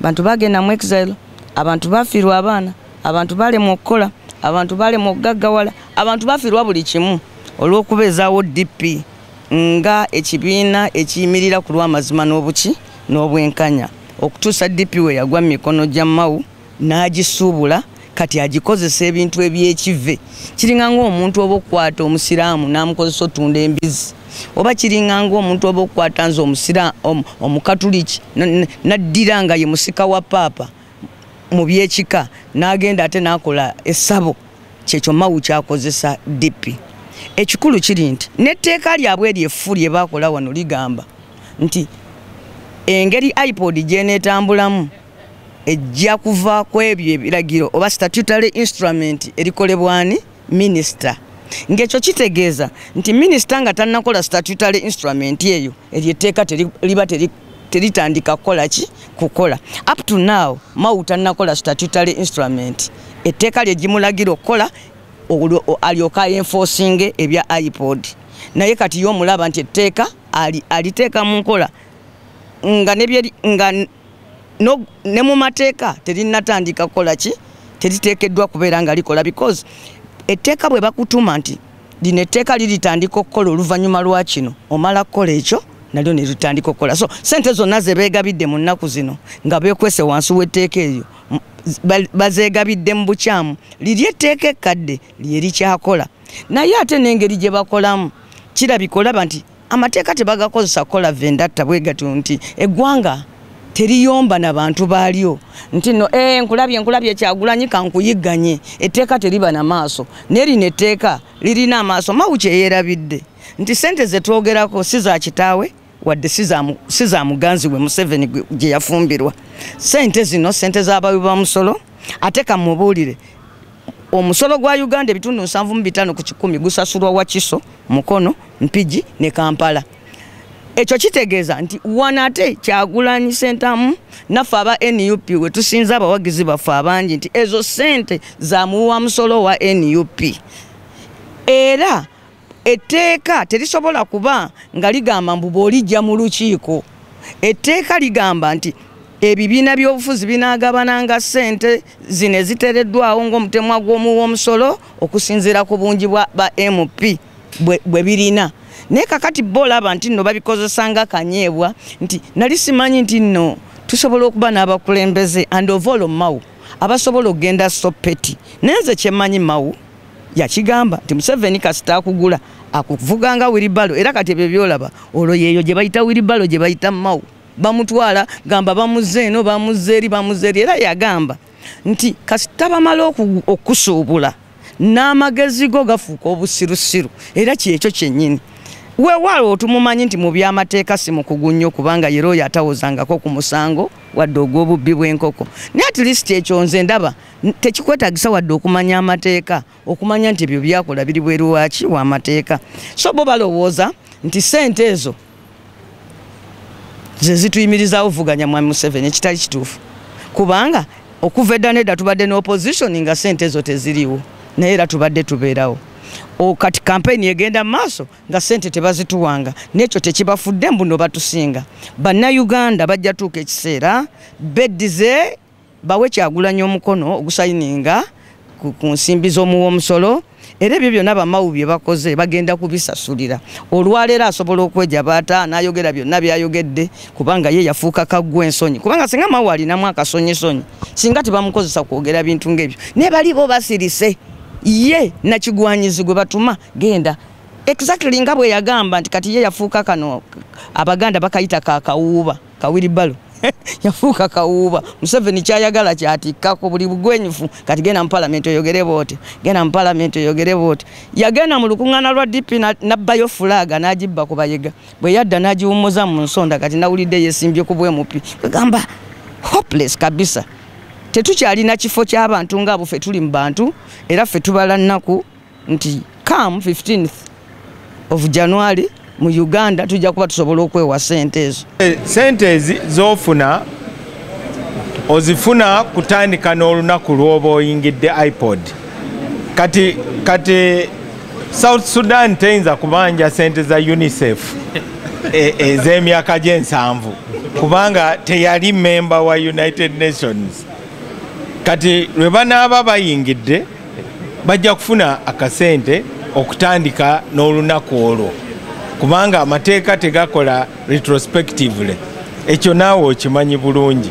abantu bagenda mu exile abantu bafiirwa abaana abantu balemwa okukola abantu balemwa okugaggawala abantu bafiirwa buli kimu olw'okubeezaawo dp nga ekibiina ekiyimirira ku lw'amazima n'obuki n'obwenkanya okutuusa dp we yagwa mu mikono gya mawu n'agisuubula kati agikozesa ebintu ebyekive kiringa ngaomuntu oba okukwata omusiraamu namukozesa otunda embizi oba kiringa ngaomuntu oba okukwata nze omukatuliki naddira nga ye musika wa paapa mu byekika nagenda ate nakola esabo kyekyo mawu kyakozesa dipi ekikulu kiri nti netteeka lyabwe eryo effu lye bakola wano ligamba nti engeri ipod gyenetambulamu ejja kuva ku ebyo ebiragiro oba statutory instrument erikolebwani minisita ng'ekyo kitegeeza nti minisita nga tannakola statutory instrument eyo eryo etteeka liba teritandika kukola ki kukola up to now mawu tannakola statutory instrument etteeka lye gimulagira okukola alyoka enforcing ebya ipod naye kati ye omulaba nti etteeka aliteeka mu nkola nga no, ne mu mateeka terinatandika kukola ki teriteekeddwa kubeera nga likola because etteeka bwe bakutuma nti lino etteeka liritandika okukola oluvannyuma lwa kino omala kukola ekyo nalyo ne litandika okukola so sente zonna ze beegabidde mu nnaku zino nga beekwese wansi w'etteeka eryo bazeegabidde mu bukyamu liri etteeka ekkadde lye likyakola naye ate n'engeri gye bakolamu kirabika olaba nti amateeka tebagakozesa kukola vendatta bwe gatyo nti eggwanga teriyomba na bantu baalyo nti no e, nkulabye nkulabye kyagulanyi kankuyigganye etteeka teriba na maaso naye lino etteeka lirina amaaso mawu kyeyerabidde nti sente zetwogerako si za kitaawe wadde si za muganzi we museveni gye yafumbirwa sente zino sente z'abawi ba musolo ate kamubuulire Omusolo gwa Uganda ebitundu nsanvu mu bitaano ku kikumi gusasulwa Wakiso, Mukono, Mpigi ne Kampala. Ekyo kitegeeza nti wano ate Kyagulanyi Ssentamu naffe aba nup we tusinza abawagizi baffe abangi nti ezo ssente za muwi wa musolo owa nup era etteeka terisobola kuba nga ligamba mbu bwolijja mu lukiiko etteeka ligamba nti ebibiina by'obufuzi binaagabananga ssente zino ezitereddwawo ng'omutemwa gw'omu w'omusolo okusinziira ku bungi bwa ba mp bwe birina naye kakati bo olaba nti nno babikozesa nga kanyeebwa nti nali simanyi nti nno tusobola okuba n'abakulembeze and ovaolo mawu abasobola okugenda sopeti naye nze kyemanyi mawu yakigamba nti museveni kasita akugula akuvuga nga wiribalo era kati ebyo byolaba olwo yeeyo gye bayita wiribalo gye bayita mawu bamutwala gamba bamuzza eno bamuzza eri bamuzza eri era yagamba nti kasita bamala okusuubula n'amagezi go gafuuka obusirusiru era kyekyo kyennyini wewaalo otumumanyi nti mu byamateeka si mukugu nnyo kubanga yera oyo atawozangako ku musango wadde ogw'obubbi bw'enkoko naye at least ekyo nze ndaba tekikwetagisa wadde okumanya amateeka okumanya nti ebyo byakola biri bweru waki wamateeka so bo balowooza nti sente ezo zezituyimirizaawo vuganya mwami museveni ekitali kituufu kubanga okuva edda nedda tubadde ne opposition nga sente ezo teziriwo naye era tubadde tubeerawo kati kampeyini egenda mu maaso nga sente tebazituwanga nekyo tekibafudde mbuno batusinga bannayuganda bajja tuuka ekiseera beddize bawe kyagulanyi omukono ogusayininga ku nsimbi z'omuwa omusolo era ebyo byonna bamawu bye bakoze bagenda kubisasulira olwaleero asobola okweja baata n'ayogera byonna byayogedde kubanga ye yafuuka kaggwa ensonyi kubanga singa mawu alinamu akasonyisonyi singa tebamukozesa kwogera bintu ng'ebyo naye bali bo basirise ye nakigwanyizi gwe batuma genda exactly nga bwe yagamba nti kati ye yafuuka kano abaganda bakayita kakawuuba kawiribalo yafuuka kawuuba museveni kyayagala kyatikkako buli bugwenyufu kati genda mu palamenti oyogere booti genda mu palamenti oyogere booti yagenda mu lukuŋŋaana lwa dp nabbayo fulaaga n'agibba ku bayega bwe yadda n'agiwummuza mu nsonda kati nawulidde yesimbye ku bwemupi kwegamba hopeless kabisa tetukyalina kifo ky'abantu nga abo fe tuli mu bantu era fe tubala nnaku nti come 15th of january mu uganda tujja kuba tusobola okwewa sente ezo eh, sente ezi zofuna ozifuna kutandika n'olunaku lwoba oyingidde ipod kati kati south sudan teyinza kubanja sente za unicef e, ez'emyaka gy'ensanvu kubanga teyali memba wa united nations kati lwe banaaba bayingidde bajja kufuna akasente okutandika n'olunaku olwo kubanga amateeka tegakola retrospectively ekyo naawe okimanyi bulungi